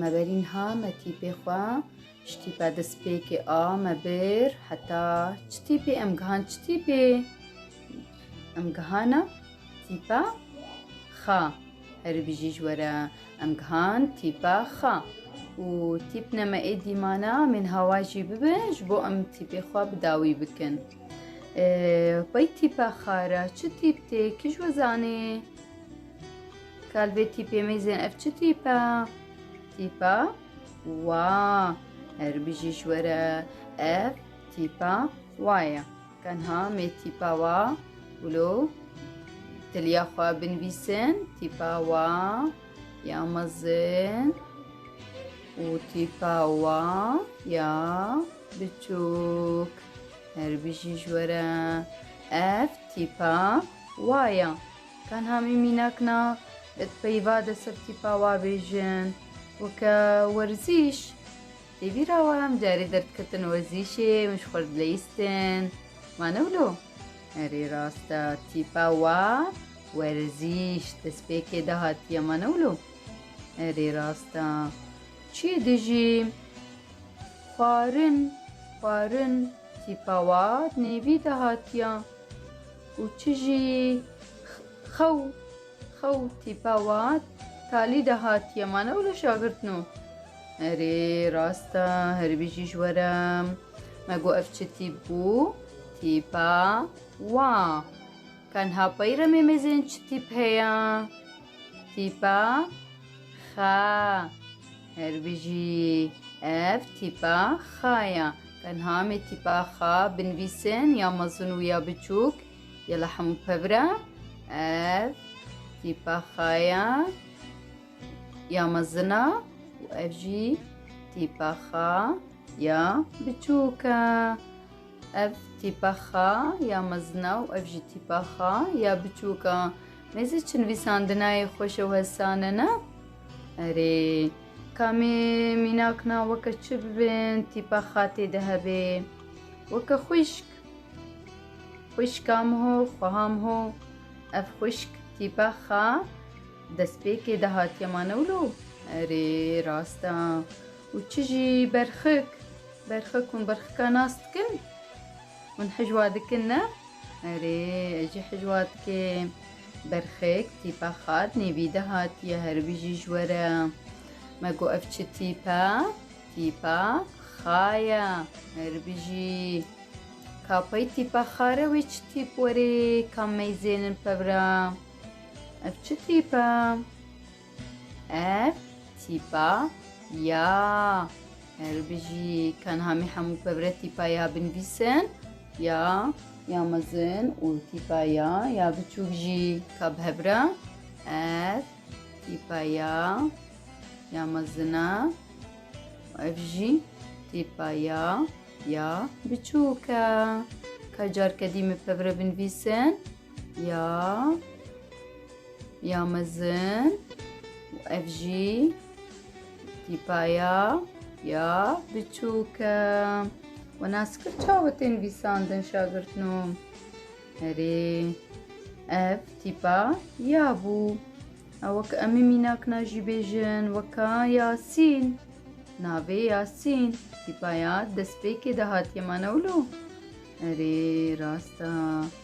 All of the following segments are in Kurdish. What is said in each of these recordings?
Me berî niha me tîpê xwe ji tîpa destpêkê a me bir heta çi tîpê em gihan çi tîpê em gihana tîpa xa herî bijî ji were em gihan tîpa xa û tîp ne me ê dîmana em ên hawa jî bibe ji bo em tîpê xwe bi dawî bikin pey tîpa xara çi tîp tê kij we zanê Kalbê tîpê mêzên ev çi tîpa? Tîpa wa. Her bijî ji we re ev tîpa wa ye. Tenha mê tîpa wa wilo tiliya xwe binivîsin tîpa wa ya mezin û tîpa wa ya biçûk. Her bijî ji we re ev tîpa wa ye. Tenha min mînak na ez peyva de ser tîpa wa bêjin û ke werzîş dê bîr a wayam carê derdketin werzîşê min ji xwe dileyistin ma ne wilo? Erê rast e tîpa wa werzîş destpêkê de hatiye ma ne wilo? Erê rast e çiyê dijî xwarin xwarin tîpa wa di nêvî de hatiye. û çi jî xew xew tîpa wat talî de hatiye ma ne wilo şagirtno. Erê rast e herî bijî ji we re. Me got ev çi tîp bû? Tîpa wa. Tenha peyre mêmêzên çi tîp heye? Tîpa xa. Her bijî ev tîpa xa ya. Tenha me tîpa xa binivîsin ya mezin û ya biçûk ya li hemû pevra. Ev tîpa xa ya ya mezina û ev jî tîpa xa ya biçûk e. Ev tîpa xa ya mezina û ev jî tîpa xa ya biçûk e. Nêzî çi nivîsandinayê xweş û hesan e na? Erê, kamê mînak na weke çi bibin tîpa xatê de hebê. Weke xwişk. Xwişkam ho, xweham ho. Ev xwişk tîpa xa destpêkê de hatiye ma newlo? Erê, rast a. Û çi jî berxik? Berxik hûn berxika nas dikin? Hûn hicwa dikin ne? Erê, ez jî hicwa dikim. Berxik, tîpa xat nêvîde hatiye herbijî ji we re. Me got ev çi tîp e? Tîpa xa ye. Herbijî. Ka pey tîpa xa re wê çi tîp werê ka meyzênin pevra? Ev çi tîp e? Ev tîpa ya. Erê bijî tenha me hemû pevre tîpa ya binivîsin. Ya ya mezin û tîpa ya ya biçûk jî ka bi hev re. Ev tîpa ya ya mezin e. Ev jî tîpa ya ya biçûk e. Ka carke dî me pevre binivîsin. Ya ya mezin û ev jî tîpaya ya biçûk e. We nas kir çawa tê nivîsandin şagirtno. Herê ev tîpa ya bû. Ew wek em ê mînakna jî bêjin weka Yasîn. Navê Yasîn tîpaya destpêkê de hatiye mane wilo. Herê rast e.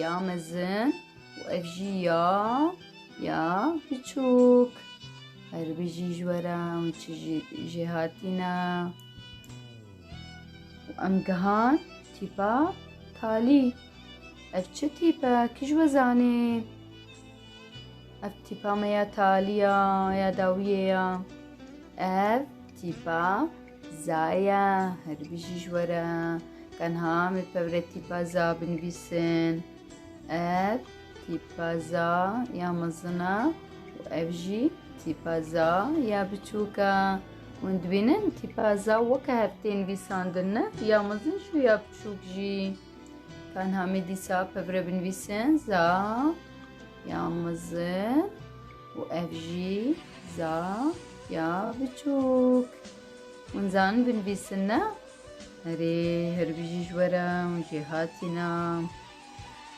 Ya mezin û ev jî ya ya biçûk. Her bijî ji we re em çi jî jê hatîne. Û em gihan tîpa talî. Ev çi tîp e? Kî ji we zanê? Ev tîpa me ya talî ya, ya dawiyê ya. Ev tîpa Zaya, her bijî ji we re. Tenha me pevre tîpa za binivîsin. Ev tîpa za ya mezin e û ev jî tîpa za ya biçûk e. Hûn dibînin tîpa za weke hev tê nivîsandin ne ya mezin jî û ya biçûk jî. Tenha me dîsa pevre binivîsin za ya mezin. û ev jî za ya biçûk. Hûn zanin binivîsin ne? Erê hirbijî ji we re hûn jê hatîna.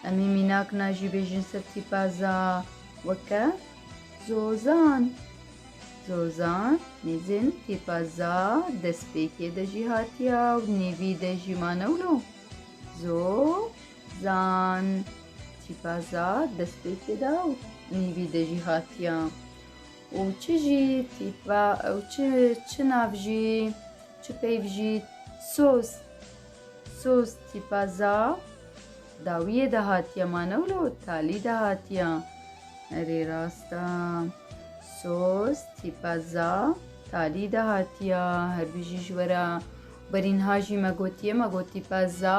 Em hî mînak na jî bêjin ser tîpaza weke zozan. Zozan nêzin tîpaza destpêkê de jî hatiya û nêvî de jî ma newlo. Zo Zan, tîpa za destpêkê de û nîvî de jî hatiya. Û çi jî tîpa ew çi çi nav jî çi peyv jî soz soz tîpa za dawiyê de hatiye ma ne wilo talî de hatiya. Erê rasta soz tîpa za talî de hatiya her bijî ji were berînha jî me gotiye me gotîpa za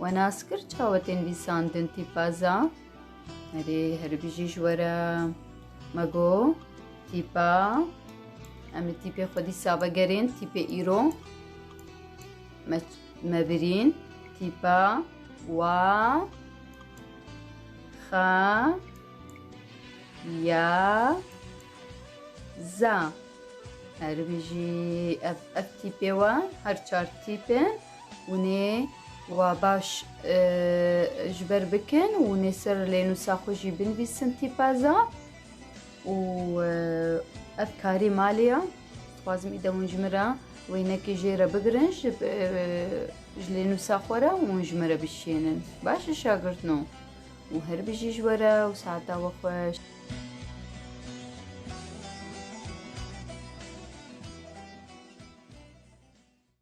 We nas kir çawe tên vîsandin tîpaza? Erê herî bijî ji we re me got tîpa em li tîpê xwedî save gerên tîpê îro me me birîn tîpa wa xa ya za herî bijî ev ev tîpê we her çar tîpin Hûnê wa baş ji ber bikin û hûnê ser lênûsa xwe jî binivîsin tîpaza û ev karî malê ya. Dixwazim îde hûn ji min re wênekê jê re bigirin ji ji lênûsa xwe re û hûn ji min re bişiyênin. Baş e şagirtno û her bijî ji we re û saeta we xweş.